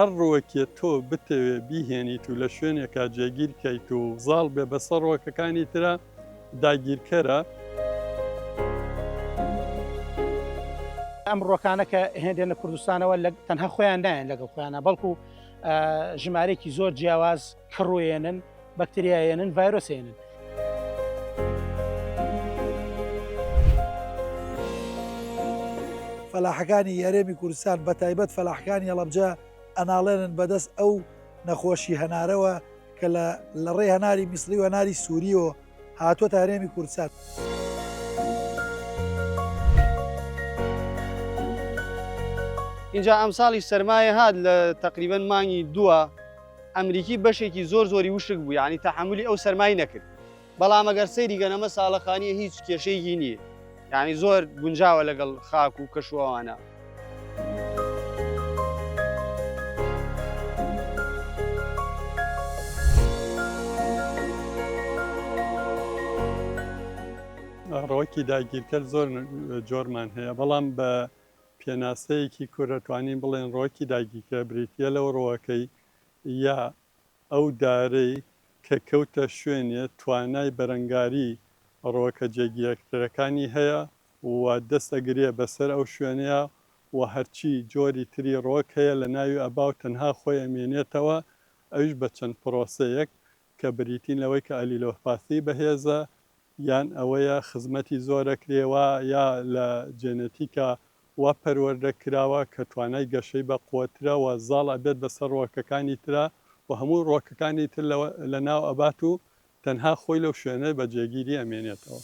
هەر ڕووەکێ تۆ بتەوێ بیهێنیت و لە شوێنێکا جێگیر کەیت و زاڵ بێ بەسەر ڕووەکەکانی ترا، داگیرکەرە. ئەمڕۆکانە کە هێندێنە کوردستانەوە تەنها خۆیان نایەن لەگەڵ خۆیانە بەڵکو ژمارێکی زۆر جیاواز کڕوێنن بەکتریایەنن ڤایرۆسێنن فەلاحەکانی یارێمی کوردستان بە تایبەت فەلاحکانی هەڵەبجە ئەناڵێنن بەدەست ئەو نەخۆشی هەنارەوە کە لە لە ڕێی هەناری میسری و هەناری سووریەوە هاتووە تا هەرێمی کوردسات. اینجا ئەمساڵی سەرمایە هاات لە تقریبن مانگی دووە ئەمریکی بەشێکی زۆر زۆری وشک بوو ینی تەحملی ئەو سەرمای نەکرد بەڵام ئەگەر سەیری کەن ئەمە ساڵەخانیە هیچ کێشەیەکی نییە یعنی زۆر گونجاوە لەگەڵ خاک و کەشوەوانە. ڕەوەکی داگیرکەر زۆر جۆرمان هەیە بەڵام بە پێناسەیەکی کورە توانین بڵێن ڕۆکی داگیرکە بریتە لەو ڕۆەکەی یا ئەو دارەی کە کەوتە شوێنێ توانای بەرەنگاری ڕۆکە جێگیرەکترەکانی هەیە و دەست ئەگرێ بە سەر ئەو شوێنەیا و هەرچی جۆری تری ڕۆک هەیە لە ناوی ئەبا و تەنها خۆی ئەمێنێتەوە ئەویش بە چەند پرۆسەیەک کە بریتین لەوەی کە ئەلیلۆپاثی بەهێزە یان ئەوەیە خزمەتی زۆرە کرێوە یا لە جێنەتیکا وا پەروەردە کراوە کە توانای گەشەی بە قوەترە و زاڵ ئەبێت بەسەر ڕوەکەکانی ترا و هەموو ڕوەکەکانی تر لە لە ناو ئەبات و تەنها خۆی لەو شوێنە بە جێگیری ئەمێنێتەوە.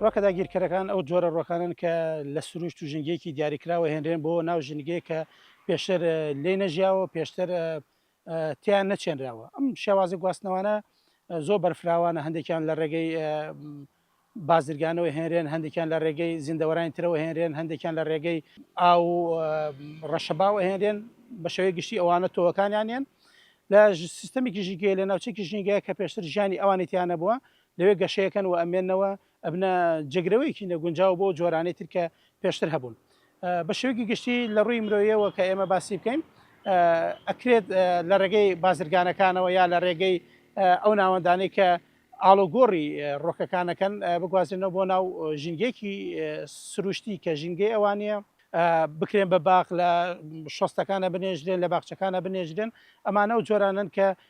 ڕۆکە داگیرکەرەکان ئەو جۆرە ڕۆکانن کە لە سروشت و ژنگێکی دیاریکراوە هێنرێن بۆ ناو ژنگەیە کە پێشتر لێ نەژیاوە پێشتر تیان نەچێنراوە ئەم شێوازە گواستنەوانە زۆر بەرفراوانە هەندێکیان لە ڕێگەی بازرگانەوە هێنرێن هەندێکیان لە ڕێگەی زیندەوەرانی ترەوە هێنرێن هەندێکیان لە ڕێگەی ئاو ڕەشەباوە هێنرێن بە شێوەی گشتی ئەوانە تۆوەکانیانیان لە سیستەمێکی ژینگەیە لە ناوچێکی ژینگەیە کە پێشتر ژیانی ئەوانێتیانە بووە لەوێ گەشەیەکەن و ئەمێننەوە ئەبنە جێگرەوەیەکی نەگونجاو بۆ ئەو جۆرانەی تر کە پێشتر هەبوون. بە شێوەیەکی گشتی لە ڕووی مرۆییەوە کە ئێمە باسی بکەین ئەکرێت لە ڕێگەی بازرگانەکانەوە یا لە ڕێگەی ئەو ناوەندانەی کە ئاڵوگۆڕی ڕۆکەکان ئەکەن بگوازرێنەوە بۆ ناو ژینگەیەکی سروشتی کە ژینگەی ئەوان نییە، بکرێن بە باخ، لە شۆستەکان ئەبنێژرێن، لە باخچەکان ئەبنێژرێن، ئەمانە ئەو جۆرانەن کە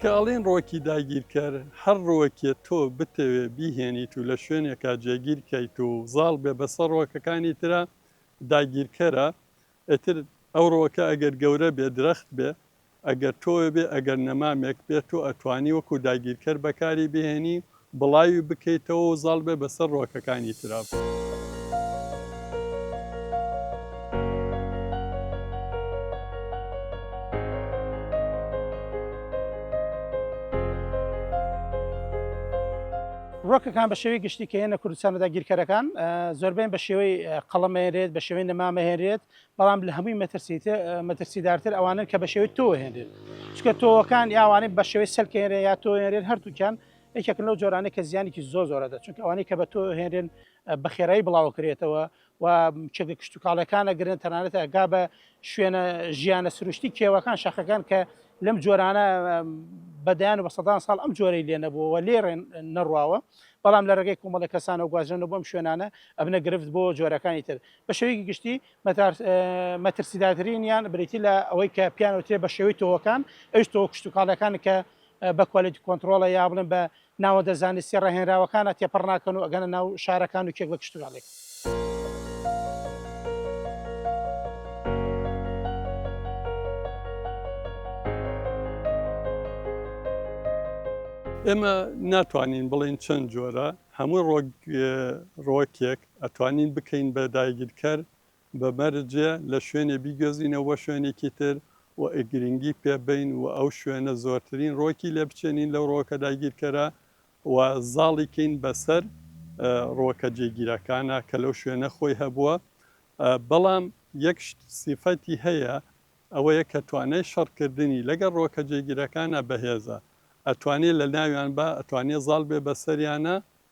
کە ئەڵێن ڕۆکی داگیرکەر، هەر ڕۆکێ تۆ بتەوێ بیهێنیت و لە شوێنێکا جێگیر کەیت و زاڵ بێ بەسەر ڕۆکەکانی ترا، داگیرکەرە. ئیتر ئەو ڕۆکە ئەگەر گەورە بێ، درەخت بێ، ئەگەر تۆێ بێ، ئەگەر نەمامێک بێ، تۆ ئەتوانی وەکوو داگیرکەر بەکاری بهێنی بڵاوی بکەیتەوە و زاڵ بێ بەسەر ڕۆکەکانی ترا. ڕۆکەکان بە شێوەی گشتی کە هێنە کوردستانە داگیرکەرەکان زۆربەیان بە شێوەی قەڵەم هێنرێت بە شێوەی نەما مەهێنرێت بەڵام لە هەمووی مەترسیتە مەترسیدارتر ئەوانن کە بە شێوەی تۆ هێنرێت چکە تۆوەکان یاوانەی بە شێوەی سەلکێنرێ یا تۆێنرێن هەردووکیان یەکێکن لەو جۆرانەی کە زیانێکی زۆر زۆرە دە چونکە ئەوانەی کە بە تۆ هێنرێن بە خێرایی بڵاوکرێتەوە و چێگە کشتتوکاڵەکانە گرن تەنانەت ئەگا بە شوێنە ژیانە سروشتی کێوەکان شەخەکان کە لەم جۆرانە بەدەیان و بە سەدان ساڵ ئەم جۆرەی لێ نەبووەوە لێڕێن نەڕواوە بەڵام لە ڕێگەی کۆمەڵە کەسانە گوازرێنە بۆم شوێنانە ئەبنە گرفت بۆ جۆرەکانی تر بە شێوەیەکی گشتی مەترسیداترین یان بریتی لە ئەوەی کە پیانوترێ بە شێوەی تۆوەکان ئەوش تۆ کشتتوکاڵەکان کە بە کوالێتی کۆنتڕۆڵە یا بڵێم بە ناوەندە زانستیە ڕاهێنراوەکانە تێپەڕ ناکەن و ئەگەنە ناو شارەکان و کێک بە کشتوکاڵێک. ئێمە ناتوانین بڵین چەند جۆرە هەموو ڕۆک ڕۆکێک ئەتوانین بکەین بە داگیرکەر بە مەرجێ لە شوێنێ بیگوێزینە وە شوێنێکی تر و گرینگی پێ بەین و ئەو شوێنە زۆرترین ڕۆکی لێ بچێنین لەو ڕۆکە داگیرکەرە و زاڵی کەین بە سەر ڕۆکە جێگیرەکانا کە لەو شوێنە خۆی هەبووە بەڵام یەک شت سیفەتی هەیە ئەوەیە کە توانای شەڕ کردنی لەگەڵ ڕۆکە جێگیرەکانا بەهێزە ئەتوانێ لە ناویان با ئەتوانێ زاڵ بێ بە سەریانا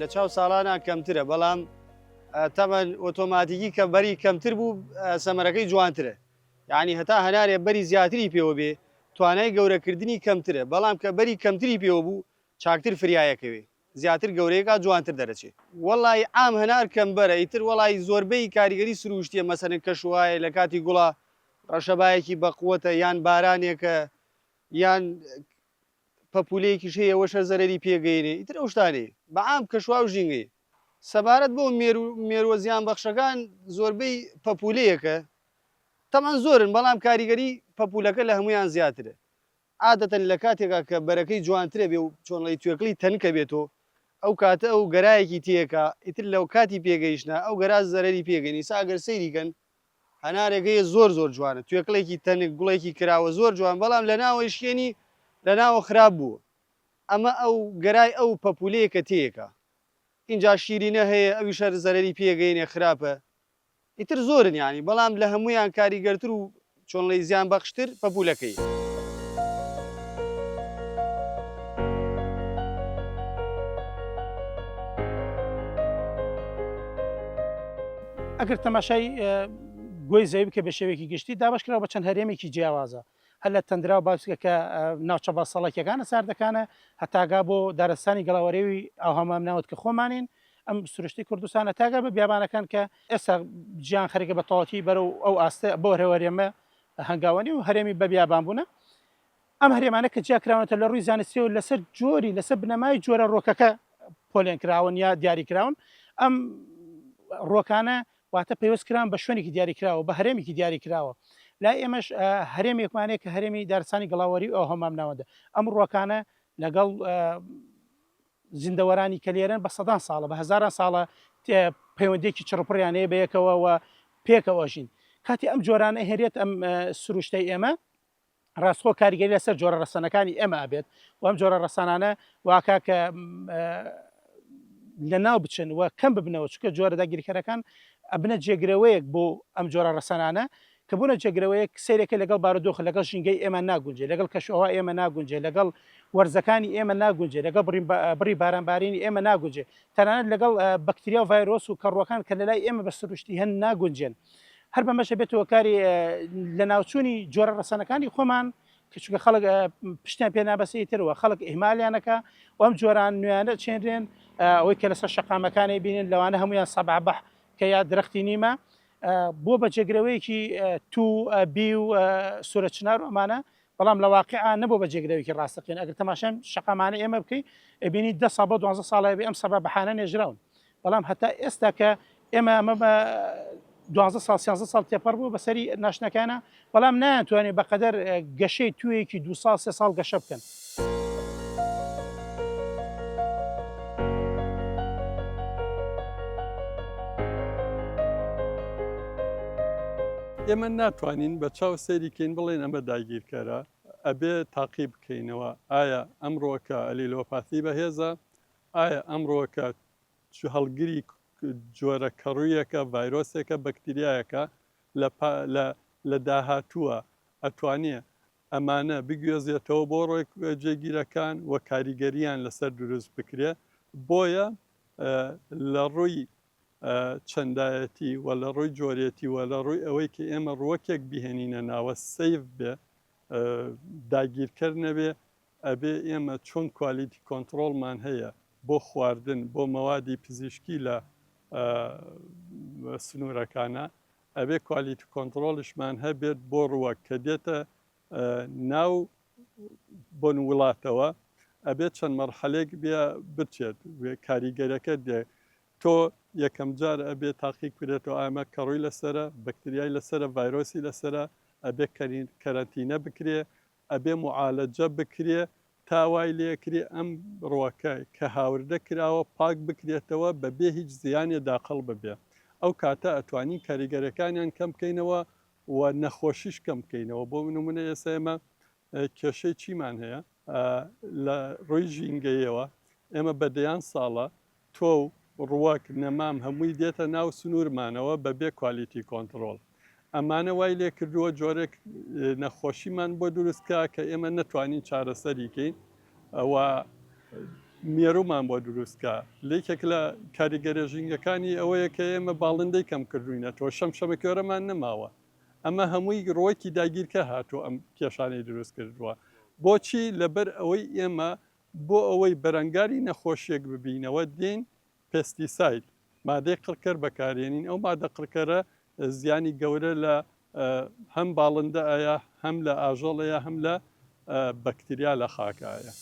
لە چاو ساڵانا کەمترە بەڵام تەمەن ئۆتۆماتیکی کە بەری کەمتر بوو سەمەرەکەی جوانترە یعنی هەتا هەنارێ بەری زیاتری پێوە بێ توانای گەورەکردنی کەمترە بەڵام کە بەری کەمتری پێوە بوو چاکتر فریایەکەوێ زیاتر گەورەیەکا جوانتر دەرەچێ وەڵی عام هەنار کەمبەرە ئیتر وەڵی زۆربەی کاریگەری سروشتیە مەسەن کەش وایە لە کاتی گوڵا ڕەشەبایەکی بەقوەتە یان بارانێکە یان پەپولەیەکیش هەیە ئەوەش هەر زەرەری پێگەیەنێ ئیتر ئەو شتانەی بە عام کە شواو ژینگەی سەبارەت بۆ مێرو مێرووە زیان بەخشەکان زۆربەی پەپولەیەکە تەبعەن زۆرن بەڵام کاریگەری پەپولەکە لە هەموویان زیاترە عادەتەن لە کاتێکا کە بەرەکەی جوانترە بێ و چۆنڵی توێکڵی تەنکە بێتۆ ئەو کاتە ئەو گەرایەکی تێکا ئیتر لەو کاتی پێگەیشتنا ئەو گەرا زەرەری پێگەنی سا ئەگەر سەیری کەن هەنارێک هەیە زۆر زۆر جوانە توێکڵێکی تەنک گوڵێکی کراوە زۆر جوان بەڵام لە ناوەی شکێنی لە ناوە خراپ بوو ئەمە ئەو گەرای ئەو پەپولەیە کە تێیەکە ئینجا شیرینە هەیە ئەویش هەر زەرەری پێگەینێ خراپە ئیتر زۆرن یانی بەڵام لە هەموویان کاریگەرتر و چۆنڵی زیان بەخشتر پەپولەکەی. ئەگەر تەماشای گۆی زەوی بکە بە شێوەیەکی گشتی دابەشکراوە بە چەند هەرێمێکی جیاوازە هەر لە تەندرا و باسکەکە ناوچە بەسەڵەکیەکانە ساردەکانە هەتاگا بۆ دارستانی گەڵاوەرێوی ئاوهەمام ناوت کە خۆمانین ئەم سروشتی کوردستانە تاگە بە بیابانەکان کە ئێستا جیهان خەریکە بە تەواوەتی بەرەو ئەو ئاستە بەو هەرێمە هەنگاوە نێ و هەرێمی بە بیابان بوونە. ئەم هەرێمانە کە جیا کراونەتە لە ڕووی زانستیەوە لەسەر جۆری لەسەر بنەمای جۆرە ڕۆکەکە پۆلێن کراون یا دیاری کراون ئەم ڕۆکانە واتە پەیوەست کران بە شوێنێکی دیاری کراوە بە هەرێمێکی دیاری کراوە لای ئێمەش هەرێمێکمانەیە کە هەرێمی دارسانی گڵاوەری ئەو هەمام ناوەندە ئەم ڕۆکانە لەگەڵ زیندەوەرانی کە لێرەن بە سەدان ساڵە، بە هەزاران ساڵە پەیوەندییەکی چڕوپڕیان هەیە بە یەکەوە و پێکەوە ئەژین. کاتێ ئەم جۆرانە ئەهێنرێت ئەم سروشتەی ئێمە، ڕاستخۆ کاریگەری لەسەر جۆرە ڕەسەنەکانی ئێمە ئەبێت و ئەم جۆرە ڕەسەنانە واکا کە لەناو بچن و کەم ببنەوە، چونکە جۆرە داگیرکەرەکان ئەبنە جێگرەوەیەک بۆ ئەم جۆرە ڕەسەنانە کە بوونە جێگرەوەیەک، سەیرەکەی لەگەڵ بارودۆخ، لەگەڵ ژینگەی ئێمە ناگونجێ، لەگەڵ کەشوهەوای ئێمە ناگونجێ، لەگەڵ وەرزەکانی ئێمە ناگونجێ، لەگەڵ بڕی بڕی بارانبارینی ئێمە ناگونجێ، تەنانەت لەگەڵ بەکتریا و ڤایرۆس و کەڕووەکان کە لەلای ئێمە بە سروشتی هەن ناگونجێن. هەر بەمەش ئەبێت هۆکاری لەناوچوونی جۆرە ڕەسەنەکانی خۆمان، کە چونکە خەڵک پشتیان پێ نابەستێ ئیتر و خەڵک ئیهمالیان ئەکا و ئەم جۆران نوێیانە ئەچێنرێن، ئەوەی کە لەسەر شەقامەکان ئەیبینن لەوانە هەموویان سەبع بح کە یا درەختی نیمە، بۆ بە جێگرەوەیەکی تو بی و سورە چنار و ئەمانە بەڵام لە واقعا نەبوو بە جێگرەوەیەکی ڕاستەقین ئەگەر تەماشای شقامانە ئێمە بکەین ئەبینی دە ساڵ بۆ دوازە ساڵی بێ ئەم سەبا بەحانە نێژراون بەڵام هەتا ئێستا کە ئێمە ئەمە بە دوازە ساڵ سیازە ساڵ تێپەڕ بوو بەسەری ناشنەکانە بەڵام نایانتوانێت بەقەدەر گەشەی توێیەکی دو ساڵ سێ ساڵ گەشە بکەن. ئێمە ناتوانین بە چاو سەیریکەین بڵێن ئەمە داگیرکەرە ئەبێ تاقی بکەینەوە ئایا ئەمڕۆکە ئەلیلۆپاتی بەهێزە ئایا ئەمڕۆکە هەڵگری جۆرە کەڕوویەکە ڤایرۆسێکە بەکتریایەکە لە پا لە لە داهاتووە ئەتوانێ ئەمانە بگوێزێتەوە بۆ ڕێ جێگیرەکان و کاریگەرییان لەسەر دروست بکرێ بۆیە لە ڕووی چەندایەتی و لە ڕووی جۆرێتی و لە ڕووی ئەوەی کە ئێمە ڕووەکێک بیهێنینە ناوە سەیڤ بێ داگیرکەر نەبێ ئەبێ ئێمە چۆن کوالیتی کۆنتڕۆڵمان هەیە بۆ خواردن بۆ مەوادی پزیشکی لە سنوورەکانە ئەبێ کوالیتی کۆنتڕۆڵیشمان هەبێت بۆ ڕووەک کە دێتە ناو بۆن وڵاتەوە ئەبێت چەند مەرحەلێک بێ بچێت کاریگەرەکە دێ تۆ یەکەم جار ئەبێ تاقیق بێتەوە ئامە کەڕووی لەسرە بەکتریای لەسرە ڤایرۆسی لەسرە ئەبێ کەرین کەرەتینە بکرێ ئەبێ معالەجە بکرێ تا وای لێکرێ ئەم ڕوەکە کە هاوردە کراوە پاک بکرێتەوە بە بێ هیچ زیانێ داقڵ ببێ ئەو کاتە ئەتوانین کاریگەرەکانیان کەم بکەینەوە و نەخۆشیش کەم بکەینەوە بۆ نمونە ئێستا ئێمە کێشەی چیمان هەیە لە ڕوی ژینگەیەوە ئێمە بە دەیان ساڵە تۆو ڕوەک نەمام هەمووی دێتە ناو سنورمانەوە بەبێ کوالیتی کۆنتڕۆڵ ئەمانە وای لێکردووە جۆرێک نەخۆشیمان بۆ دروست کا کە ئێمە نەتوانین چارەسەری کەین و مێرومان بۆ دروست کا لەیکێک لە کاریگەرە ژینگەکانی ئەوەیە کە ئێمە باڵندەی کەم کردوینە تۆ شەم شەمە کێرەمان نەماوە ئەمە هەمووی ڕوەکی داگیرکە هاتوو ئەم کێشانەی دروست کردووە بۆچی لەبەر ئەوەی ئێمە بۆ ئەوەی بەرەنگاری نەخۆشیەک ببینەوە دێین پێستیساید مادەی قڕکەر بەکارێنین ئەو مادە قڕکەرە زیانی گەورە لە هەم باڵندە ئایا هەم لە ئاژەڵەیە هەم لە بەکتریا لە خاکایە.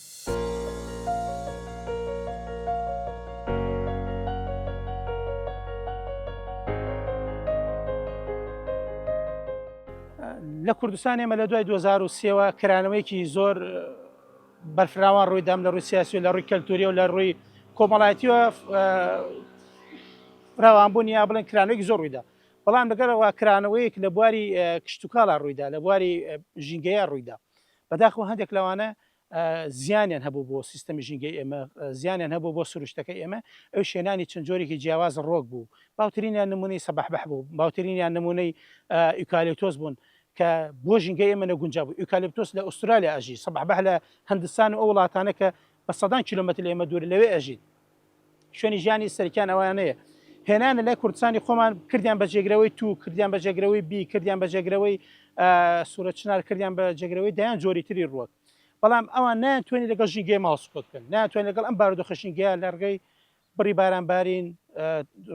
لە کوردستان ئێمە لە دوای 2023ەوە کرانەوەیەکی زۆر بەرفراوان ڕووی دام لە ڕووی سیاسی و لە ڕووی کەلتوری و لە ڕووی کۆمەڵایەتیوە فراوانبوون یا بڵێن کرانەوەی زۆر ڕوویدا بەڵام لەگەرەوە کرانەوەیەک لە بواری کشتتوکاڵا ڕوویدا لە بواری ژینگەیە ڕوویدا بەداخۆ هەندێک لەوانە زیانیان هەبوو بۆ سیستەمی ژینگەی ئێمە زیانیان هەبوو بۆ سروشتەکە ئێمە ئەو شێنانی چەند جۆرێکی جیاواز ڕۆک بوو باوترینیان نمونەی سەبح بەح بوو باوترینیان نمونەی ئیکالێتۆس بوون کە بۆ ژینگەی ئێمە نەگونجا بوو ئیوکالیپتۆس لە ئوسترالیا ئەژی سەبحبح لە هندستان و ئەو وڵاتانە کە بە سەدان کیلومەتر لە ئێمە دوور لەوێ ئەژین شوێنی ژیانی سەرکیان ئەوانەیە هێنانە لای کوردستانی خۆمان کردیان بە جێگرەوەی تو کردیان بە جێگرەوەی بی کردیان بە جێگرەوەی سوورە چنار کردیان بە جێگرەوەی دەیان جۆری تری ڕووەک بەڵام ئەوان نایان توێنی لەگەڵ ژینگەی ماوس کۆتکن ناتوانین لەگەڵ ئەم بارودۆخە ژینگەیە لە ڕگەی بڕی باران بارین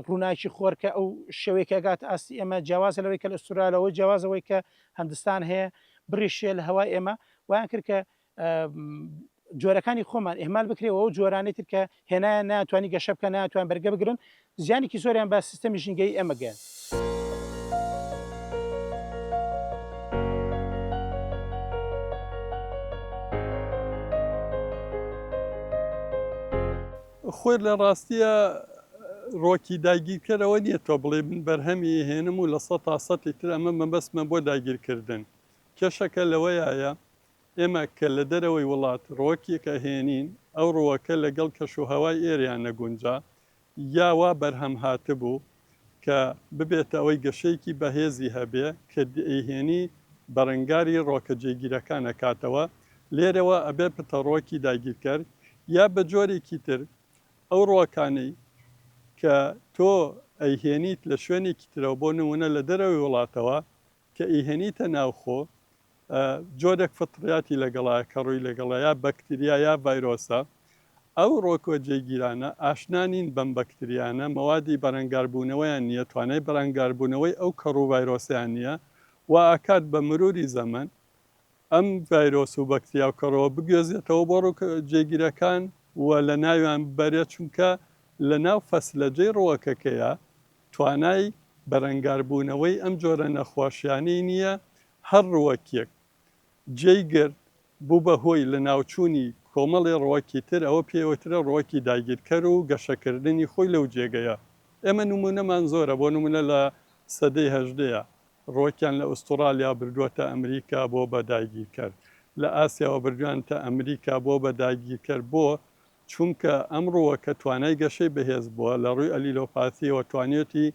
ڕووناکی خۆر کە ئەو شێوەی کە گات ئاستی ئێمە جیاوازە لەوەی کە لە ئوسترالیا لەوەی جیاوازەوەی کە هندستان هەیە بڕی شێ لە هەوای ئێمە وایان کرد کە جۆرەکانی خۆمان ئهمال بکرێ و جۆرانی تر کە هێنایان ناتوانانی گەشە بکە ناتوان بەرگە بگرن زیانێکی زۆریان بە سیستەمی ژینگەی ئێمە گەن. خۆێر لە ڕاستیە ڕۆکی داگیرکەر ئەوە نیە تۆ بڵێی من بەرهەمی ئەهێنم و لە سەتا سەتی تر ئەمە مەبەستمە بۆ داگیرکردن کێشەکە لەوەیایە ئێمە کە لە دەرەوەی وڵات ڕۆکێک ئەهێنین ئەو ڕوەکە لەگەڵ کەش و هەوای ئێرەیا نەگونجا یا وا بەرهەم هاتبوو کە ببێتە ئەوەی گەشەیەکی بەهێزی هەبێ کە دەیهێنی بەرەنگاری ڕۆکە جێگیرەکان ئەکاتەوە، لێرەوە ئەبێ پتەڕۆکی داگیرکەر یا بە جۆرێکی تر ئەو ڕۆکانەی کە تۆ ئەیهێنیت لە شوێنێکی ترەوە بۆ نموونە لە دەرەوەی وڵاتەوە کە ئیهێنیتە ناو خۆ جۆرێک فطریاتی لەگەڵایە کە ڕووی لەگەڵە یا بەکتریا یا ڤایرۆسە، ئەو ڕۆکوە جێگیرانە ئاشنا نین بەم بەکتریانە، مەوادی بەرەنگاربوونەوەیان نییە، توانای بەرەنگاربوونەوەی ئەو کەڕ و ڤایرۆسەیان نییە، وا ئەکات بە مروری زەمەن ئەم ڤایرۆس و بەکتریا و کەڕوە بگوێزێتەوە بۆ ڕوک جێگیرەکان و لەناویان ببەرێت، چونکە لەناو فەسلەجەی ڕوەکەکەیە توانای بەرەنگاربوونەوەی ئەم جۆرە نەخۆشیانەی نییە، هەر ڕووەکیەک جێی گرت بوو بە هۆی لەناوچوونی کۆمەڵی ڕووەکی تر ئەوە پێی ئەوترێ ڕووەکی داگیرکەر و گەشەکردنی خۆی لەو جێگەیە ئێمە نموونەمان زۆرە بۆ نموونە لە سەدەی هەژدەیا ڕووەکیان لە ئوستوڕالیا بردووەتە ئەمریکا بۆ بە داگیرکەر لە ئاسیاوە بردوویانتە ئەمریکا بۆ بە داگیرکەر بۆ چونکە ئەم ڕووەکە توانای گەشەی بەهێز بووە، لە ڕووی ئەلیلۆپاثییەوە توانیوێتی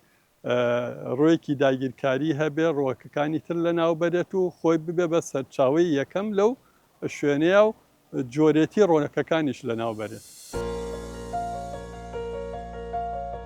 ڕووێکی داگیرکاری هەبێ، ڕووەکەکانی تر لەناو بەرێت و خۆی ببێ بە سەرچاوەی یەکەم لەو شوێنەیا و جۆرێتی ڕووەکەکانیش لەناو بەرێت.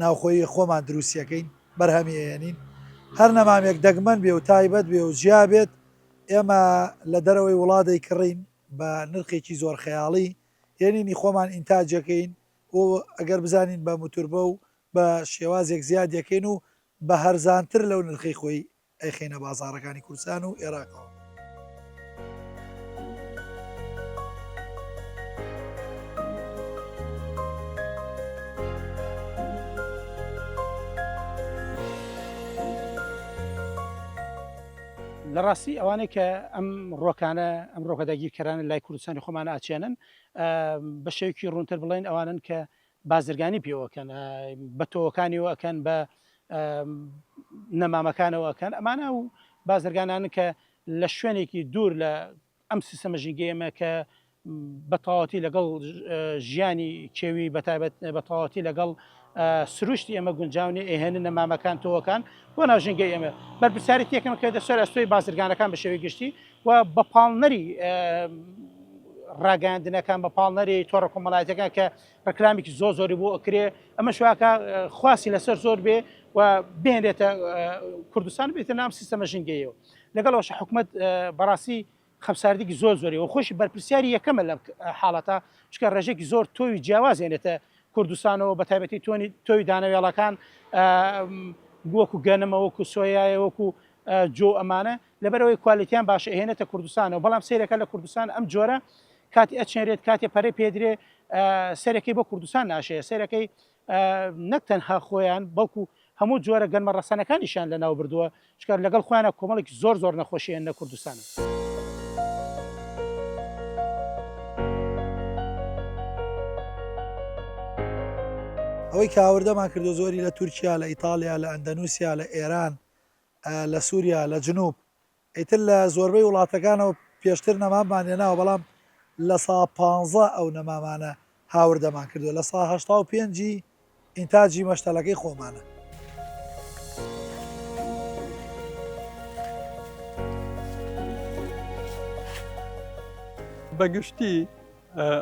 ناوخۆیی خۆمان دروستیەکەین بەرهەمی ئەیەنین هەر نەمامێک دەگمەن بێ و تایبەت بێ و جیا بێت ئێمە لە دەرەوەی وڵات دەیکڕین بە نرخێکی زۆر خەیاڵی هێنینی خۆمان ئینتاجەکەین و ئەگەر بزانین بە متوربە و بە شێوازێک زیادیەکەین و بە هەرزانتر لەو نرخەی خۆی ئەیخەینە بازاڕەکانی کوردستان و ئێراقەوە. لە ڕاستی ئەوانەی کە ئەم ڕۆکانە ئەم ڕۆکە داگیرکەرانە لای کوردستانی خۆمانە ئاچێنن بە شێوکی ڕوونتر بڵێن ئەوانن کە بازرگانی پێوە کەن بە تۆوەکانیەوە ئەکەن بە نەمامەکانەوە ئەکەن ئەمانە و بازرگانانە کە لە شوێنێکی دوور لە ئەم سیستەمە ژینگەیەمە کە بە تەواتی لەگەڵ ژیانی کێوی بەتابەت بە تەواتی لەگەڵ سروشتی ئێمە گونجاونی ئێهێنە نەمامەکان تۆوەکان بۆ ناوژنگە ئێمە بەرپرسیاری تێکم کە دەسەر ئەستۆی بازرگانەکان بە شێوەی گشتی و بە پاڵنەری ڕاگەاندنەکان بە پاڵنەری تۆڕە کۆمەڵایەتەکان کە ڕکلامێکی زۆ زۆری بۆ ئەکرێ ئەمە شوواکە خواسی لەسەر زۆر بێ و بێنێتە کوردستان بێتە نام سیستەمە ژنگەیەوە لەگەڵەوەش حکوومەت بەڕاستی خەمساردێکی زۆر زۆری و خۆشی بەرپرسیاری یەکەمە لەم حاڵەتە چکە ڕێژێکی زۆر تۆوی جیاوازێنێتە کوردستانەوە بە تایبەتی تۆنی تۆوی دانەوێڵەکان وەکو گەنمە وەکو سۆیایە وەکو جۆ ئەمانە لەبەرئەوەی کوالێتیان باشە ئەهێنێتە کوردستانەوە بەڵام سەیرەکە لە کوردستان ئەم جۆرە کاتی ئەچێنرێت کاتێ پەرەی پێدرێ سەرەکەی بۆ کوردستان ناشەیە سەرەکەی نەک تەنها خۆیان بەڵکو هەموو جۆرە گەنمە ڕەسەنەکانیشیان لە ناو بردووە چکار لەگەڵ خۆیانە کۆمەڵێک زۆر زۆر نەخۆشیێن لە کوردستانە. ئەوەی کاوردەمان کردو زۆری لە تورکیا لە ئیتالیا لە ئەندەنووسیا لە ئێران لە سوریا لە جنوب ئیتر لە زۆربەی وڵاتەکانەوە پێشتر نەماممان هێناوە بەڵام لە سا پانزە ئەو نەمامانە هاوردەمان کردوە لە سا هەشتا و پێنجی ئینتاجی مەشتەلەکەی خۆمانە. بە گشتی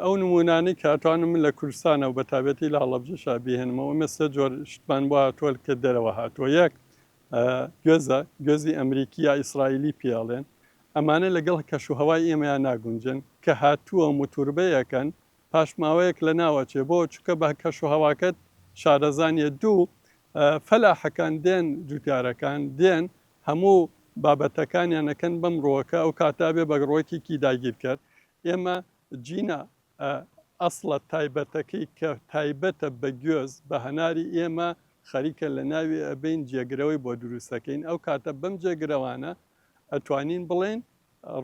ئەو نمونانەی کە ئەتوانم من لە کوردستانەوە بە تابەتی لە هەڵەبجەشا بیهێنمەوە ئێمە سێ جۆر شتمان بۆ هاتووە کە دەرەوە هاتووە یەک گوێزە، گوێزی ئەمریکی یا ئیسرائیلی پێی ئەڵێن، ئەمانە لەگەڵ کەش و هەوای ئێمەیا ناگونجێن، کە هاتووە موتوربەیەکەن پاش ماوەیەک لەناو ئەچێ، بۆ؟ چونکە بە کەش و هەواکەت شارەزا نییە، دوو، فەلاحەکان دێن جوتیارەکان دێن هەموو بابەتەکانیان ئەکەن بەم ڕووەکە، ئەو کاتە ئەبێ بە ڕووەکێکی داگیرکەر، ئێمە جینا ئە ئەسڵە تایبەتەکەی کە تایبەتە بە گوێز بە هەناری ئێمە خەریکە لە ناوی ئەبەین جێگرەوەی بۆ دروست ئەکەین ئەو کاتە بەم جێگرەوانە ئەتوانین بڵێین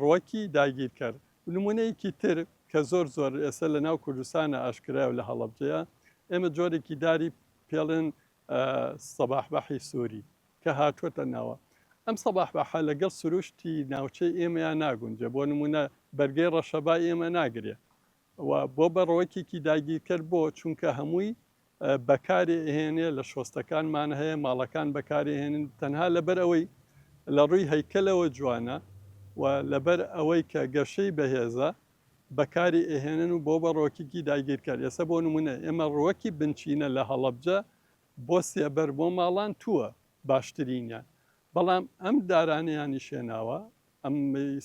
ڕوەکی داگیرکەر نمونەیەکی تر کە زۆر زۆر ئێسە لە ناو کوردستانە ئاشکرایە و لە هەڵەبجەیە ئێمە جۆرێکی داری پێڵێن سەباحبەحی سوری کە هاتووەتە ناوە. ئەم سەباحبەحە لەگەڵ سروشتی ناوچەی ئێمەیا ناگونجێ، بۆ نموونە بەرگەی ڕەشەبای ئێمە ناگرێ و بۆ بە ڕوەکێکی داگیرکەر بۆ؟ چونکە هەمووی بەکارێ ئەهێنێ، لە شۆستەکانمان هەیە، ماڵەکان بەکارێ ئەهێنن، تەنها لەبەر ئەوەی لە ڕووی هەیکەلەوە جوانە و لەبەر ئەوەی کە گەشەی بەهێزە، بەکاری ئەهێنن و بۆ بە ڕۆکیکی داگیرکەر ئێسە بۆ نمونە ئێمە ڕوەکی بنچینە لە هەڵەبجە بۆ سێبەر بۆ ماڵان تووە باشترینیان بەڵام ئەم دارانیانی شێناوە ئەم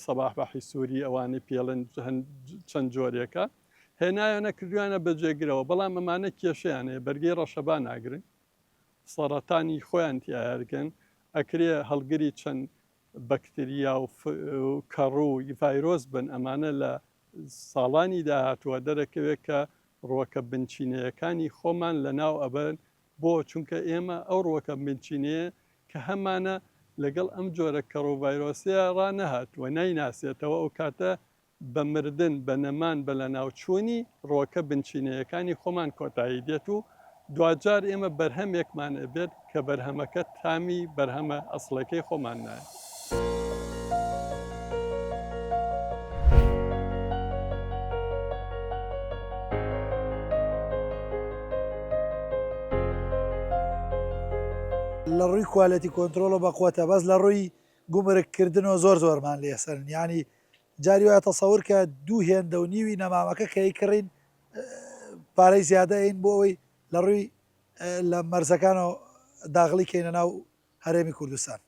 سەباح بەحی سووری ئەوانەی پێڵن چەند جۆرێکە هێنایانە کردویانە بە جێگرەوە بەڵام ئەمانە کێشیانەیە بەرگی ڕەشەبا ناگرن سەرەتانی خۆیان تیاگەن ئەکرێ هەڵگری چەند بەکتریا و کەڕوو ی ڤایرۆس بن ئەمانە لە ساڵانی داهاتووە دەرەکەوێت کە ڕووەکە بنچینەیەکانی خۆمان لە ناو ئەبەن بۆ چونکە ئێمە ئەو ڕووەکە بنچینەیە کە هەمانە لەگەڵ ئەم جۆرە کەڕوو ڤایرۆسەیە ڕانەهات و نایناسێتەوە ئەو کاتە بە مردن، بە نەمان، بە لەناوچوونی ڕووەکە بنچینەیەکانی خۆمان کۆتایی دێت و دواجار ئێمە بەرهەمێکمان ئەبێت کە بەرهەمەکە تامی بەرهەمە ئەسڵەکەی خۆمان نایە. لە ڕووی کوالێتی کۆنترۆڵەوە بە قوەتە بەس لە ڕووی گومرگ کردنەوە زۆر زۆرمان لێ سەرن یانی جاری وایە تەسەور کە دوو هێندە و نیوی نەمامەکە کە ئەیکڕین پارەی زیادە ئەین بۆ ئەوەی لە ڕووی لە مەرزەکانەوە داغڵی کەینە ناو هەرێمی کوردستان.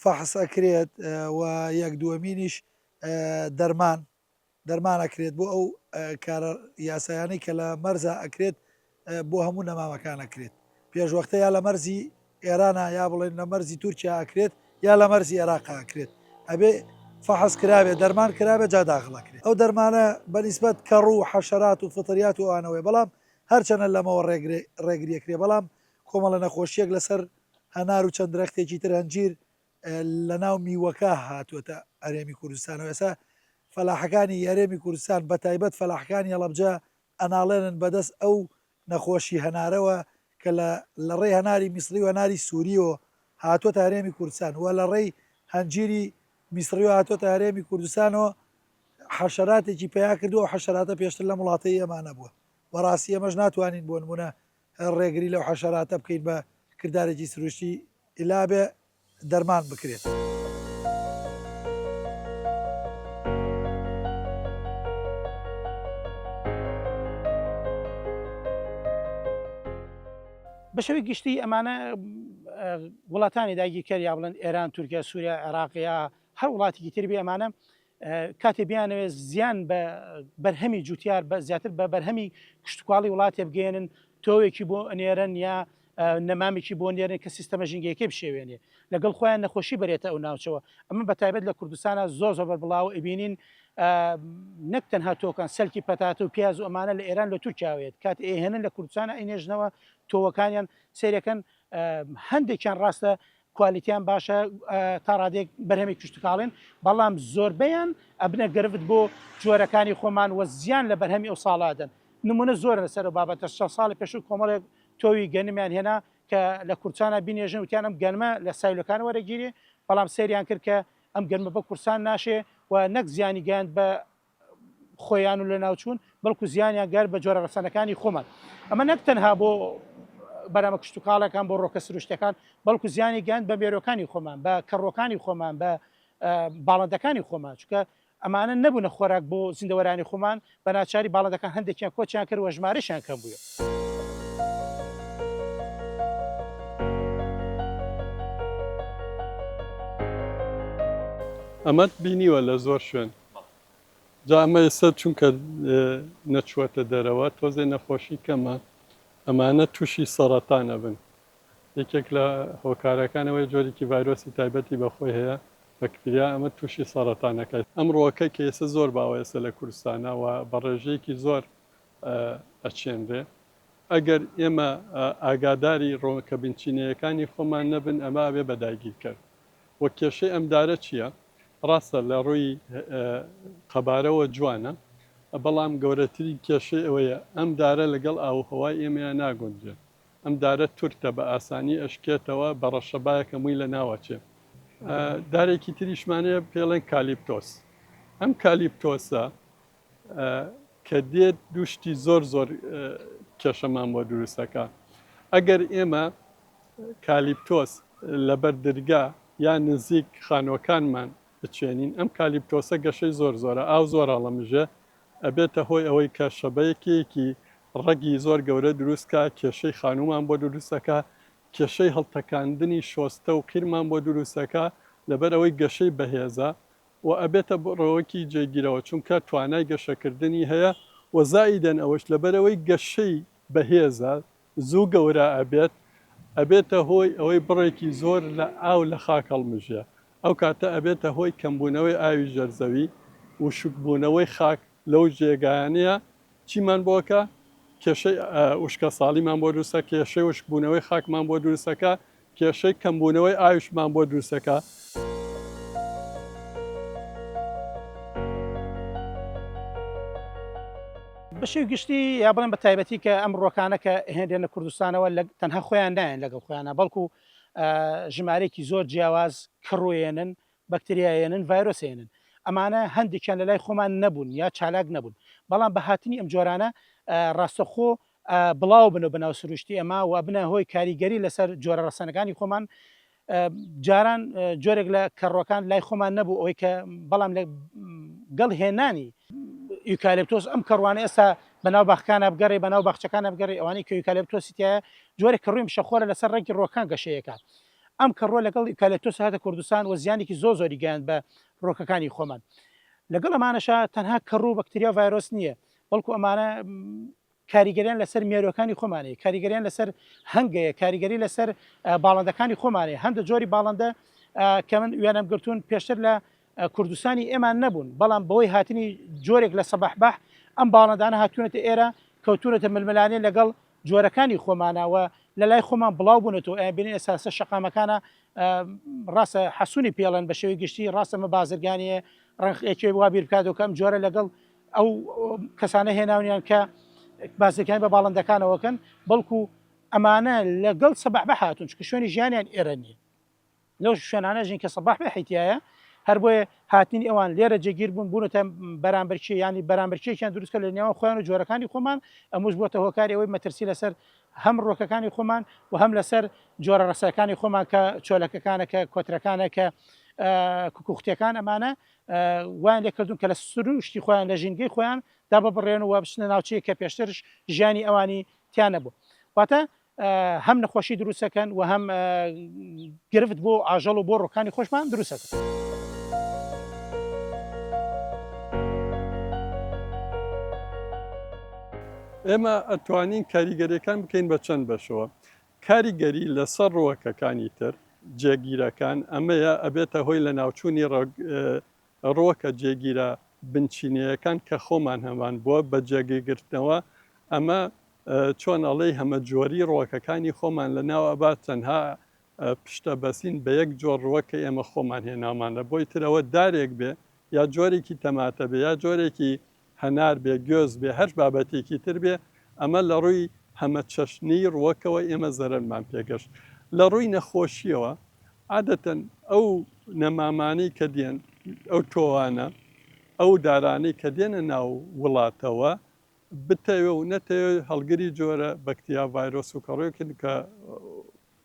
فەحس ئەکرێت و یەک دووەمینیش دەرمان دەرمان ئەکرێت بۆ ئەو کارە یاسایانەی کە لە مەرزا ئەکرێت بۆ هەموو نەمامەکان ئەکرێت پێشوەختە یا لە مەرزی ئێرانە یا بڵێن لە مەرزی تورکیا ئەکرێت یا لە مەرزی عێراق ئەکرێت ئەبێ فحس کرابێ دەرمان کرابێ جا داخڵەکرێت ئەو دەرمانە بەنیسبەت کەڕ و حەشرات و فطریات و ئەوانەوەی بەڵام هەرچەنە لەمەوە ڕێگریەکرێ بەڵام کۆمەڵە نەخۆشیەک لەسەر هەنار و چەند درەختێکی تر هەنجیر لە ناو میوەکە هاتووەتە ئەرێمی کوردستانەوە ئێسا فەلاحەکانی یارێمی کوردستان بە تایبەت فەلاحەکانی هەڵەبجە ئەناڵێنن بەدەست ئەو نەخۆشی هەنارەوە کە لە لە ڕێی هەناری میسڕی و هەناری سوریەوە هاتووەتە هەرێمی کوردستان و لە ڕێی هەنجیری میسڕیەوە هاتووەتە هەرێمی کوردستانەوە حەشەراتێکی پەیا کردووە، ئەو حەشەراتە پێشتر لەم وڵاتەی ئێمە نەبووە، بەڕاستی ئێمەش ناتوانین بۆ نموونە ڕێگری لەو حەشەراتە بکەین بە کردارێکی سروشتی ئیلابێ دەرمان بکرێت. بە شێوەی گشتی ئەمانە وڵاتانی داگیرکەر یا بڵێن ئێران، تورکیا، سووریا، عێراق یا هەر وڵاتێکی تر بێ ئەمانە کاتێ بیانەوێت زیان بە بەرهەمی جوتیار بە زیاتر بە بەرهەمی کشتتوکاڵی وڵاتێ بگەێنن تۆوێکی بۆ ئەنێرن یا نەمامێکی بۆ نێرن کە سیستەمە ژنگەکەی بشێوێنێ لەگەڵ خۆیان نەخۆشی بەرێتە ئەو ناوچەوە ئەمە بە تایبەت لە کوردستانە زۆر زۆر بەبڵاو ئەبینین نەک تەنها تۆکان سەلکی پەتاتە و پیاز و ئەمانە لە ئێران لە تورکیاوێت کات ئێهێنن لە کوردستانە ئەینێژنەوە تۆوەکانیان سێرەکەن هەندێکیان ڕاستە کوالیتیان باشە تا ڕادێک بەرهەمی کشتتوکاڵێن بەڵام زۆربیان ئەبنە گرفت بۆ جۆرەکانی خۆمان وە زیان لە بەرهەمی ئەو ساڵادەن نمونە زۆر لەسەر بابەتە شە ساڵی پێش و کۆمەڵێک تۆوی گەنمیان هێنا کە لە کورسانە بینێژن وتیان ئەم گەنمە لە سایلەکان وەرەگیری بەڵام سریان کرد کە ئەم گەنمە بە کورسان ناشێ و نەک زیانی گەیاند بە خۆیان و لەناوچوون بەڵکو زیانیان گەر بە جۆرە ڕەسەنەکانی خۆمان ئەمە نەک تەنها بۆ بەرامە کشتتوکاڵەکان بۆ ڕۆکە سروشتەکان بەڵکو زیانی گەند بە مێرۆکانی خۆمان بە کەڕۆکانی خۆمان بە باڵندەکانی خۆمان چکە ئەمانە نەبوونە خۆراک بۆ زیندەوەرانی خۆمان بە ناچاری باڵندەکان هەندێکیان کۆچیان کرد وە ژمارەشیان کەم بووە. ئەمەت بینیوە لە زۆر شوێن جا ئەمە ئێستا چونکە نەچووەتە دەرەوە تۆزێ نەخۆشی کەمە ئەمانە تووشی سەڕەتان ئەبن یەکێک لە هۆکارەکان ئەوەیە جۆرێکی ڤایرۆسی تایبەتی بە خۆی هەیە بەکتریا ئەمە تووشی سەڕەتان ئەکا ئەمڕۆکە کە ئێستا زۆر باوە ئێستا لە کوردستانا و بە ڕێژەیەکی زۆر ئەچێنرێ ئەگەر ئێمە ئاگاداری ڕۆکە بنچینەیەکانی خۆمان نەبن ئەمە ئەبێ بە داگیرکەر و کێشەی ئەم دارە چیە؟ ڕاستە لە ڕووی قەبارەوە جوانە بەڵام گەورەترین کێشەی ئەوەیە ئەم دارە لەگەڵ ئاووهەوای ئێمەیا ناگونجێ ئەم دارە تورتە بە ئاسانی ئەشکێتەوە بە ڕەشەبایەکە مووی لە ناو ئەچێ. دارێکی تریشمان هەیە پێڵێن کالیپتۆس ئەم کالیپتۆسە کە دێت دوو شتی زۆر زۆر کێشەمان بۆ دروستەکە ئەگەر ئێمە کالیپتۆس لەبەر درگا یا نزیک خانۆکانمان بچێنین ئەم کالیپتۆسە گەشەی زۆر زۆرە ئاو زۆر هەڵەمژێ ئەبێتە هۆی ئەوەی کە شەبەیەکێکی ڕەگی زۆر گەورە دروستکە کێشەی خانومان بۆ دروستەکە کێشەی هەڵتەکاندنی شۆستە و قیرمان بۆ دروستەکە لەبەر ئەوەی گەشەی بەهێزە و ئەبێتە بڕەوەکی جێگیرەوە چونکە توانای گەشەکردنی هەیە و زائیدەن ئەوەش لەبەرئەوەی گەشەی بەهێزە زوو گەورە ئەبێت ئەبێتە هۆی ئەوەی بڕێکی زۆر لە ئاو لە خاک هەڵمژێ ئەو کاتە ئەبێتە هۆی کەمبوونەوەی ئاوی ژێرزەوی وشکبوونەوەی خاک لەو جێگایانەیە چیمان بۆ ئەکا؟ کێشەی وشکەساڵیمان بۆ دروست ئەکا، کێشەی وشکبوونەوەی خاکمان بۆ دروست ئەکا، کێشەی کەمبوونەوەی ئاویشمان بۆ دروست ئەکا. بە شێوەی گشتی یا بڵێم بە تایبەتی کە ئەم ڕووەکانە کە هێنرێنە کوردستانەوە تەنها خۆیان نایەن لەگەڵ خۆیانا بەڵکو ژمارەیەکی زۆر جیاواز کڕوێنن بەکتریاهێنن، ڤایرۆسهێنن، ئەمانە هەندێکیان لەلای خۆمان نەبوون یا چالاک نەبوون، بەڵام بە هاتنی ئەم جۆرانە ڕاستەخۆ بڵاوببنەوە بە ناو سروشتی ئەما و ئەبنە هۆی کاریگەری لەسەر جۆرە ڕەسەنەکانی خۆمان، جاران جۆرێک لە کەڕووەکان لای خۆمان نەبوو ئەوەی کە بەڵام لە گەڵ هێنانی. یوکالێپتۆس ئەم کەڕووانە ئێستا بە ناو باخکانا بگەڕێ بە ناو باخچەکانا بگەڕێ ئەوانەی کە یوکالێپتۆسی تیایە جۆرێک کەڕووی مشەخۆرە لەسەر ڕەنگی ڕووەکان گەشەی ئەکا ئەم کە ڕۆ لەگەڵ ئیوکالێپتۆس هاتە کوردستان و زیانێکی زۆر زۆری گەیاند بە ڕۆکەکانی خۆمان لەگەڵ ئەمانەشا تەنها کە ڕوو بەکتریا ڤایرۆس نییە بەڵکو ئەمانە کاریگەریان لەسەر مێرۆکانی خۆمانەیە کاریگەریان لەسەر هەنگەیە کاریگەری لەسەر باڵندەکانی خۆمانەیە هەندە جۆری باڵندە کە من وێنەم گرتوون پێشتر لە کوردستانی ئێمان نەبوون بەڵام بەوەی هاتنی جۆرێک لە سەباح بەح ئەم باڵندانە هاتوونەتە ئێرە کەوتونەتە ململانێ لەگەڵ جۆرەکانی خۆمانە و لەلای خۆمان بڵاو بونەتەوە ئەیان بینین ئێساسە شەقامەکانە ڕاستە حەسونی پێڵێن بە شێوی گشتی ڕاستە مە بازرگانیە ڕنخ ئێکێ وا بیر بکاتەوە کەم جۆرە لەگەڵ ئەو کەسانە هێناونیان کە بازەکان بە باڵندەکانەوەکەن بەڵکو ئەمانە لەگەڵ سەبح بە هاتون چکە شوێنی ژیانیان ئێرە نیە لەو شوێنانەش نین کە سەباح بەحی تیایە، هەر بۆیە هاتنی ئەوان لێرە جێگیر بوون بوونەتە بەرامبەرکێ، یانی بەرامبەرکێکیان دروست کرد لە نێوان خۆیان و جۆرەکانی خۆمان، ئەمووش بووەتە هۆکاری ئەوەی مەترسی لەسەر هەم ڕووەکەکانی خۆمان و هەم لەسەر جۆرە ڕەسەکانی خۆمان کە چۆلەکەکانە کە کۆترەکانە کە کوکوختیەکان ئەمانە وایان لێ کردوون کە لە سروشتی خۆیان لە ژینگەی خۆیان دا ببڕێن و بچنە ناوچەیە کە پێشترش ژیانی ئەوانی تیا نەبوو واتە هەم نەخۆشی دروست دەکەن و هەم گرفت بۆ ئاژەڵ و بۆ ڕۆکانی خۆشمان دروست دەکەن. ئێمە ئەتوانین کاریگەریەکان بکەین بە چەند بەشەوە کاریگەری لەسەر ڕوەکەکانی تر جێگیرەکان ئەمەیە ئەبێتە هۆی لە ناوچوونی ڕووەکە جێگیرە بنچینەیەکان کە خۆمان هەمان بووە بە جێگەگرتنەوە ئەمە چۆن ئەڵێی هەمە جۆری ڕووەکەکانی خۆمان لە ناو ئەبات تەنها پشتە بەسین بە یەک جۆر ڕووە کە ئێمە خۆمان هێنامان لە بۆی ترەوە دارێک بێ یا جۆرێکی تەماتە بێ یا جۆرێکی هەنار بێ، گوێز بێ، هەر بابەتێکی تر بێ، ئەمە لە ڕووی هەمەچەشنیی ڕووەکەوە ئێمە زەرەرمان پێ گەشت. لە ڕووی نەخۆشییەوە، عادەتەن ئەو نەمامانەی کە دێن، ئەو تۆوانە، ئەو دارانەی کە دێنە ناو وڵاتەوە، بتەوێ و نەتەوێ هەڵگری جۆرە بەکتریا، ڤایرۆس و کەڕووێکن کە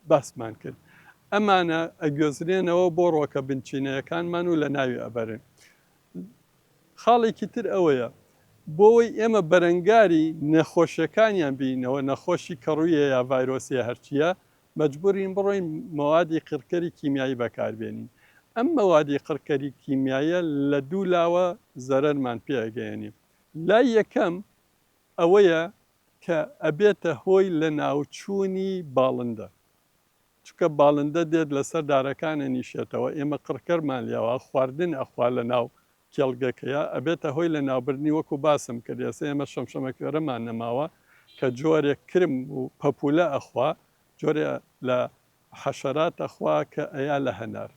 باسمان کرد. ئەمانە ئەگوێزرێنەوە بۆ ڕووەکە بنچینەیەکانمان و لەناوی ئەبەرن. خاڵێکی تر ئەوەیە، بۆوەی ئێمە بەرەنگاری نەخۆشیەکانیان بینەوە، نەخۆشی کەڕویە یا ڤایرۆسە یا هەرچیە، مەجبورین بڕۆین مەوادی قڕکەری کیمیایی بەکاربێنین. ئەم مەوادی قڕکەری کیمیاییە لە دوو لاوە زەرەرمان پێ ئەگەیەنێ. لای یەکەم ئەوەیە کە ئەبێتە هۆی لەناوچوونی باڵندە. چونکە باڵندە دێت لەسەر دارەکان ئەنیشێتەوە ئێمە قڕکەرمان لێوە خواردن ئەخوا لەناو کێڵگەکەیا ئەبێتە هۆی لەناوبردنی وەکو باسم کرد ئێسە ئێمە شەمشەمەکوێرەمان نەماوە کە جۆرێک کرم و پەپولە ئەخوا جۆرێ لە حەشەرات ئەخوا کە ئەیا لە هەنار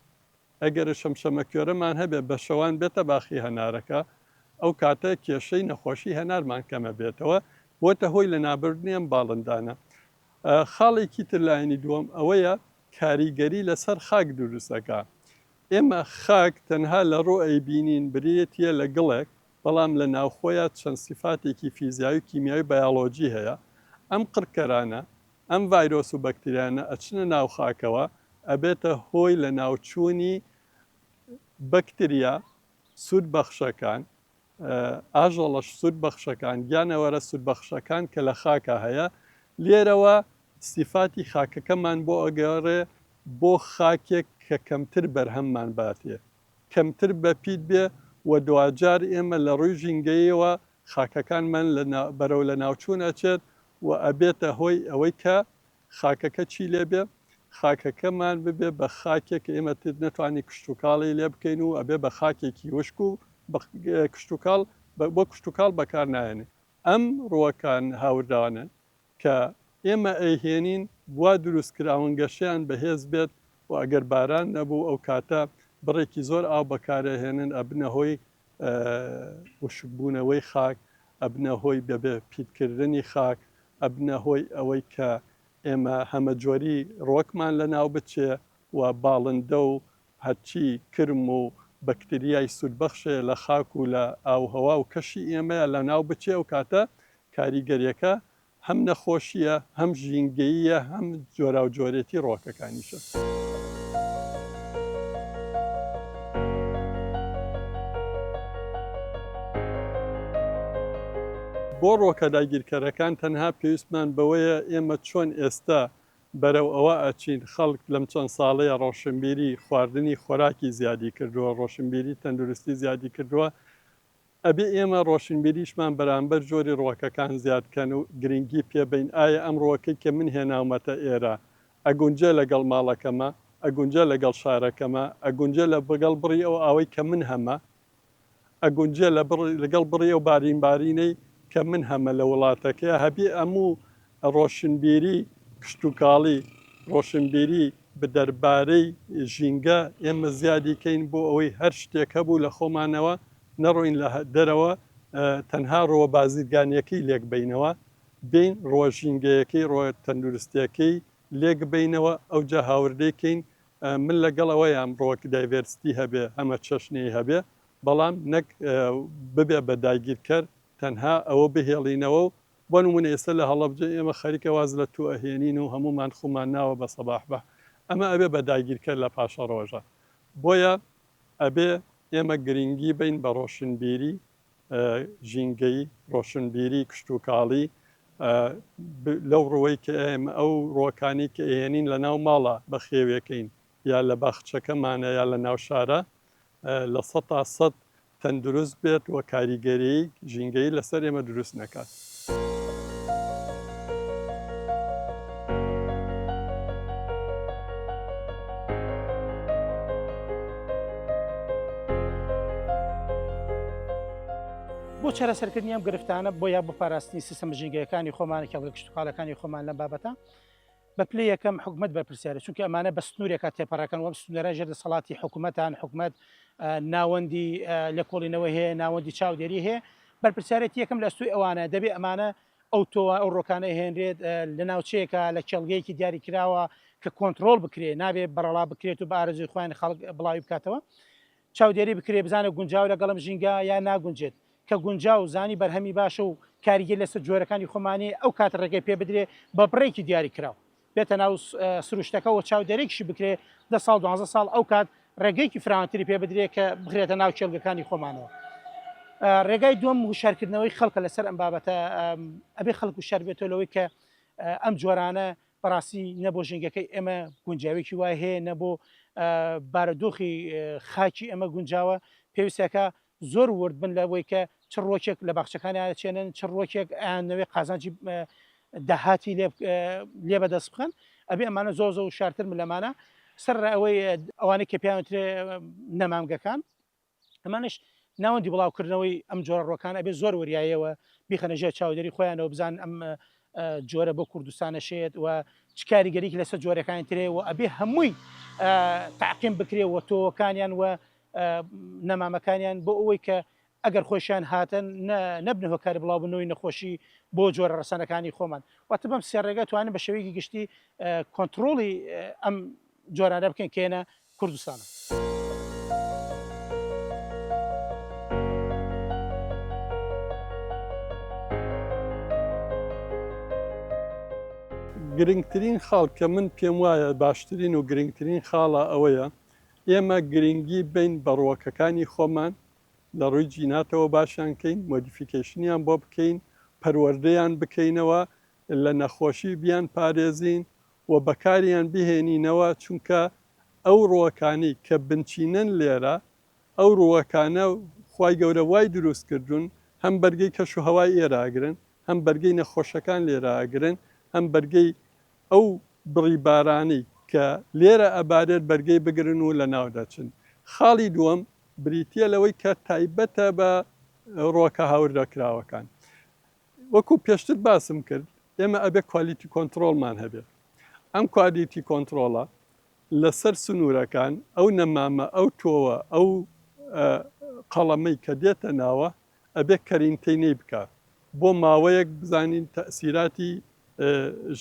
ئەگەرە شەمشەمەکوێرەمان هەبێ بە شەوان بێتە باخی هەنارەکە ئەو کاتە کێشەی نەخۆشی هەنارمان کەمە بێتەوە بۆتە هۆی لەنابردنی ئەم باڵندانە خاڵێکی تر لایەنی دووەم ئەوەیە کاریگەری لەسەر خاک دروست ئەکا. ئێمە خاک تەنها لە ڕوو ی بینین برێتیە لە گڵێک بەڵام لە ناوخۆیا چەند سیفاتێکی فیزیایی و کیمیایی و بایۆلۆجی هەیە ئەم قڕکەرانە ئەم ڤایرۆس و بەکتریانە ئەچنە ناو خاکەوە ئەبێتە هۆی لە ناوچوونی بەکتریا سوود بەخشەکان ئاژەڵە سوود بەخشەکان، گیانەوەرە سوود بەخشەکان کە لە خاکا هەیە، لێرەوە سیفاتی خاکەکەمان بۆ ئەگەڕێ بۆ خاکێک کە کەمتر بەرهەممان باتێ، کەمتر بەپیت بێ و دواجار ئێمە لە ڕووی ژینگەییەوە خاکەکانمان لە بەرەو لەناوچوون ئەچێت و ئەبێتە هۆی ئەوەی کە خاکەکە چی لێ بێ؟ خاکەکەمان ببێ بە خاکێک ئێمە نەتوانین کشتوکاڵی لێ بکەین و ئەبێ بە خاکێکی وشک و کشتوکاڵ بۆ کشتوکاڵ بەکار نایەنێ. ئەم ڕووەکان هاوردانەن کە ئێمە ئەیهێنین وا دروست کراون گەشەیان بەهێز بێت و ئەگەر باران نەبوو ئەو کاتە بڕێکی زۆر ئاو بەکارئەهێنن ئەبنە هۆی وشکبوونەوەی خاک ئەبنە هۆی بەبێ پیتکردنی خاک ئەبنە هۆی ئەوەی کە ئێمە هەمەجۆری ڕۆکمان لەناو بچێ و باڵندە و هەرچی کرم و بەکتریای سوودبەخشێ لە خاک و لە ئاووهەوا و کەشی ئێمەیا لەناو بچێ ئەوکاتە کاریگەریەکە هەم نەخۆشییە، هەم ژینگەییە، هەم جۆراوجۆرێتی ڕووەکەکانیشە. بۆ ڕووەکە داگیرکەرەکان تەنها پێویستمان بەوەیە ئێمە چۆن ئێستا بەرەو ئەوە ئەچین، خەڵک لەم چەند ساڵەیە ڕۆشنبیری خواردنی خۆراکی زیادی کردووە، ڕۆشنبیری تەندروستی زیادی کردووە، ئەبێ ئێمە ڕۆشنبیریشمان بەرامبەر جۆری ڕووەکەکان زیاد بکەن و گرینگی پێ بەین، ئایا ئەم ڕووەکەی کە من هێناومەتە ئێرە ئەگونجێ لەگەڵ ماڵەکەمە، ئەگونجێ لەگەڵ شارەکەمە، ئەگونجێ لەگەڵ بڕی ئەو ئاوەی کە من هەمە، ئەگونجێ لەگەڵ بڕی ئەو بارینبارینەی کە من هەمە لە وڵاتەکەیا، هەبێ ئەموو ڕۆشنبیری کشتوکاڵی، ڕۆشنبیری بدەربارەی ژینگە، ئێمە زیادی کەین بۆ ئەوەی هەر شتێک هەبوو لە خۆمانەوە نەڕۆین لە دەرەوە تەنها ڕۆوە بازرگانیەکەی لێکبەینەوە بێین ڕۆوە ژینگەیەکەی ڕۆوە تەندروستیەکەی لێکبەینەوە ئەوجا هاوردەی کەین من لەگەڵ ئەوەیام ڕۆک دایڤێرستی هەبێ هەمە چەشنەی هەبێ بەڵام نەک ببێ بە داگیرکەر تەنها ئەوە بهێڵینەوە و بۆ نمونە ئێستا لە هەڵەبجە ئێمە خەریکە واز لە توو ئەهێنین و هەموومان خوومان ناوە بە سەباح بە ئەمە ئەبێ بە داگیرکەر لە پاشە ڕۆژە بۆیە ئەبێ ئێمە گرینگی بەین بە ڕۆشنبیری ژینگەیی ڕۆشنبیری کشتوکاڵی لەو ڕوەی کە ئێمە ئەو ڕۆکانی کە ئێنین لە ناو ماڵە بە خێوێکەین یا لە باخچەکەمانە یا لە ناو شارە لە سە تا سەد تەندروست بێت و کاریگەریی ژینگەیی لەسەر ئێمە دروست نەکات. بۆ چارەسەرکردنی ئەم گرفتانە، بۆ یا بۆ پاراستنی سیستەمە ژینگەیەکانی خۆمان، کێڵگە کشتوکاڵەکانی خۆمان لەم بابەتە، بە پلەی یەکەم حکومەت بەرپرسیارە چونکە ئەمانە بە سنورێکا تێپەڕەکەن وەم سنورە ژێر دەسەڵاتی حکومەتان حکومەت ناوەندی لێکۆڵینەوەی هەیە ناوەندی چاودێری هەیە بەرپرسیارێتی یەکەم لە ئەستۆی ئەوانە دەبێ ئەمانە ئەو تۆوە ئەو ڕۆکانە هێنرێت لە ناوچەیەکە لە کێڵگەیەکی دیاری کراوە کە کۆنتترۆل بکرێ نابێ بەڕەڵا بکرێت و بارزوی خوۆیان خەڵک بڵاوی بکاتەوە چاودێری بکرێت بزانێت گونجاوە لەگەڵم ژینگە یان ناگونجێت، کە گونجاو و زانی بەرهەمی باشە و کاریگەری لەسەر جۆرەکانی خۆمانەیە ئەو کات ڕێگەی پێ بدرێت بە بڕێکی دیاری کراو بێتە ناو سروشتەکە و چاودێرێکیشی بکرێت دە ساڵ دوانزە ساڵ ئەو کات ڕێگەیەکی فراوانتری پێ بدرێت کە بخرێتە ناو کێڵگەکانی خۆمانەوە. ڕێگای دووەم وشارکردنەوەی خەڵکە لەسەر ئەم بابەتە ئەبێ خەڵک وشار بێتەوە لەوەی کە ئەم جۆرانە بەڕاستی نە بۆ ژینگەکەی ئێمە گونجاوێکی وای هەیە نە بۆ بارەدۆخی خاکی ئەمە گونجاوە پێویستەکە زۆر ورد بن لە بۆی کە چ ڕۆکێک لە باخچەکانی ئاچێنن چ ڕۆکێک ئەیانەوەی قازانجی داهاتی لێ بەدەست بخەن ئەبێ ئەمانە زۆر زۆر شارتر ملەمانە سەر ئەوەی ئەوانەی کە پێیانوترێ نەمامگەکان ئەمانەش ناوەندی بڵاوکردنەوەی ئەم جۆرە ڕوەکان ئەبێ زۆر وریایەوە بیخەنە ژێر چاودێری خۆیانەوە بزان ئەم جۆرە بۆ کوردستانە شێت و چ کاریگەریکی لەسەر جۆرەکانی ترەیە و ئەبێ هەمووی تاقیم بکرێ و تۆوەکانیان و نەمامەکانیان بۆ ئەوەی کە ئەگەر خۆشیان هاتن نەبنە هۆکاری بڵاوبنەوەی نەخۆشی بۆ جۆرە ڕسانەکانی خۆمان واتە بەم سێ ڕێگە توانن بە شێوەیەکی گشتی کۆنتترۆڵی ئەم جۆرانە بکەین کە ێنە کوردستانە. گرنگترین خاڵ کە من پێم وایە باشترین و گرنگترین خاڵە ئەوەیە ئێمە گرنگی بین بە ڕووەکەکانی خۆمان لە ڕووی جیناتەوە باشیان کەین مۆدیفیکەیشنیان بۆ بکەین پەروەردەیان بکەینەوە لە نەخۆشی بیان پارێزین و بەکاریان بهێنینەوە چونکە ئەو ڕووەکانی کە بنچینەن لێرە ئەو ڕووەکانە خوای گەورە وای دروست کردوون هەم بەرگەی کەش و هەوای ئێرە ئەگرن هەم بەرگەی نەخۆشەکان لێرە ئەگرن هەم بەرگەی ئەو بڕی بارانەی کە لێرە ئەبارێت بەرگەی بگرن و لەناو دەچن خاڵی دووەم بریتیە لەوەی کە تایبەتە بە ڕووەکە هاوردەکراوەکان وەکو پێشتر باسم کرد ئێمە ئەبێ کوالیتی کۆنتڕۆڵمان هەبێ ئەم کوالیتی کۆنتڕۆڵە لەسەر سنوورەکان ئەو نەمامە ئەو تۆوە ئەو قەڵەمەی کە دێتە ناوە ئەبێ کەرینتینەی بکە بۆ ماوەیەک بزانین تەسیراتی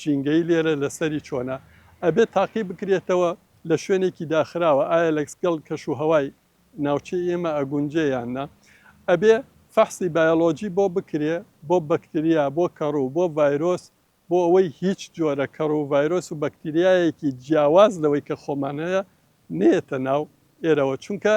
ژینگەی لێرە لەسەری چۆنە ئەبێ تاقی بکرێتەوە لە شوێنێکی داخراوە ئایا لەکسگەڵ کەش و هەوای ناوچەی ئێمە ئەگونجێ یان نا ئەبێ فەحسی بایۆلۆجی بۆ بکرێ بۆ بەکتریا بۆ کەڕوو بۆ ڤایرۆس بۆ ئەوەی هیچ جۆرە کەڕوو ڤایرۆس و بەکتریایەکی جیاواز لەوەی کە خۆمان هەیە نێتە ناو ئێرەوە چونکە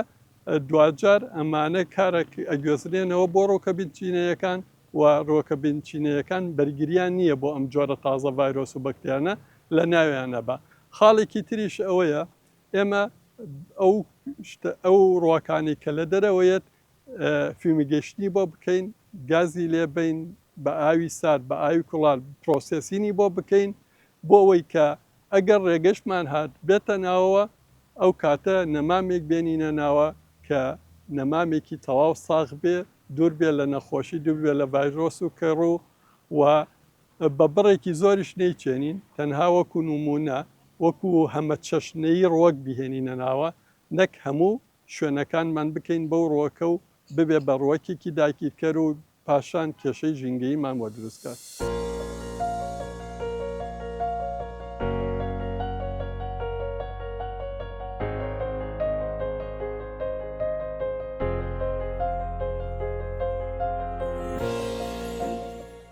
دواجار ئەمانە کارە ئەگوێزرێنەوە بۆ ڕۆکە بنچینەیەکان و ڕۆکە بنچینەیەکان بەرگریان نییە بۆ ئەم جۆرە تازە ڤایرۆس و بەکتیانە لە ناویانە بە خاڵێکی تریش ئەوەیە ئێمە ئەو شتە ئەو ڕووەکانی کە لە دەرەوەیەت فیومیگەیشنی بۆ بکەین، گازی لێ بەین بە ئاوی سارد بە ئاوی کوڵان پرۆسێسینی بۆ بکەین بۆ ئەوەی کە ئەگەر ڕێگەشمان هات بێتە ناوەوە ئەو کاتە نەمامێک بێنینە ناوە کە نەمامێکی تەواو ساغ بێ دوور بێ لە نەخۆشی دوور بێ لە ڤایرۆس و کەڕوو و بە بڕێکی زۆریش نەیچێنین، تەنها وەکو نموونە، وەکو هەمەچەشنەیی ڕوەک بیهێنینە ناوە، نەک هەموو شوێنەکانمان بکەین بەو ڕوەکە و ببێ بە ڕوەکێکی داگیرکەر و پاشان کێشەی ژینگەییمان بۆ دروست کات.